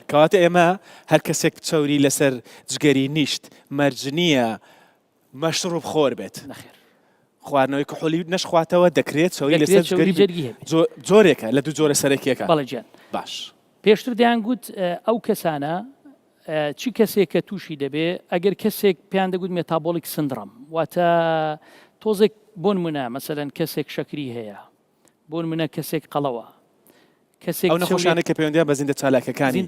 کەواتە ئێمە هەر کەسێک چەوری لەسەر جگەری نیشت مەرج نییە مەشروب خۆر بێت نەخێر خواردنەوەی کحولی نەشخواتەوە دەکرێت چەوری دەکرێت لەسەر چەوری جگەری جەرگی هەبێت جۆ- جۆرێکە لە دوو جۆرە سەرەکیەکە بەڵێ گیان باش پێشتر دەیان گوت اه، ئەو کەسانە اه، چی کەسێک کە تووشی دەبێ ئەگەر کەسێک پێیان دەگوت مێتابۆلیک سندڕم واتە تۆزێک بۆن منە مەسەەن کەسێک شەکری هەیە بۆ نموونە کەسێک قەڵەوە، کەسێک ئەو نەخۆشانەی کە پەیوەندیان بە زیندە چالاکەکانی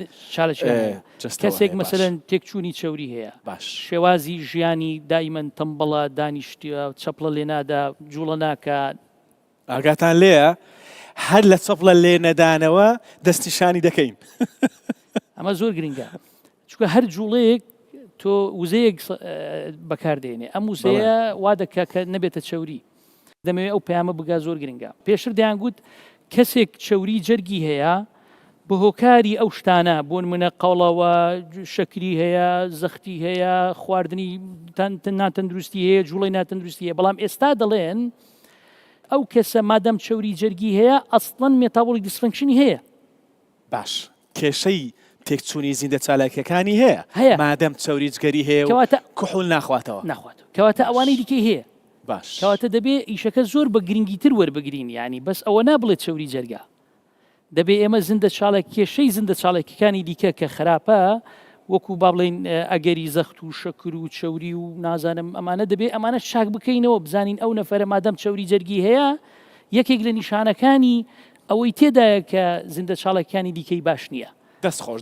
کەسێک مەسەرەن تێکچوونی چەوری هەیە باش شێوازی ژیانی دایمەن تەمبەڵە دانیشتە چەپڵە لێنادا جوڵە ناکە ئاگاتان لێە هەر لە چەپڵە لێ نەدانەوە دەستنیشانی دەکەین ئەمە زۆر گرنگە چونکە هەر جوڵەیەک تۆ وزەیەک بەکار دێنێ ئەم وزەیە وا دەکە کە نەبێتە چەوری دەمەوێت ئەو پامە بگا زۆر گرنگە پێشتر دەیانگووت کەسێک چەوری جەرگی هەیە بە هۆکاری ئەو شتانە بۆن منە قەڵەوە شەکری هەیە زەختی هەیە خواردنی ناتەندروستی هەیە جوڵی ناتەندروستی هەیە بەڵام ئێستا دەڵێن ئەو کەسە مادەم چەوری جەرگی هەیە ئەستڵەن مێتابولی دیسفنکشنی هەیە باش کێشەی تێکچوونی زیندە چالاکییەکانی هەیە؟ هەیە. مادەم چەوری جگەری هەیە و کەواتە. کحول ناخواتەوە. ناخواتەوە. کەواتە باش. ئەوانەی دیکەی هەیە. باش. کەواتە دەبێ ئیشەکە زۆر بە گرنگیتر وەربگرین یانی بەس ئەوە نا بڵێ چەوری جەرگە. دەبێ ئێمە زندە چالاک کێشەی زندە چالاکییەکانی دیکە کە خراپە وەکوو با بڵێین ئەگەری زەخت و شەکر و چەوری و نازانم ئەمانە دەبێ ئەمانەش چاک بکەینەوە بزانین ئەو نەفەرە مادەم چەوری جەرگی هەیە یەکێک لە نیشانەکانی ئەوەی تێدایە کە زیندە چاڵەکیانی دیکەی باش نییە. دەست خۆش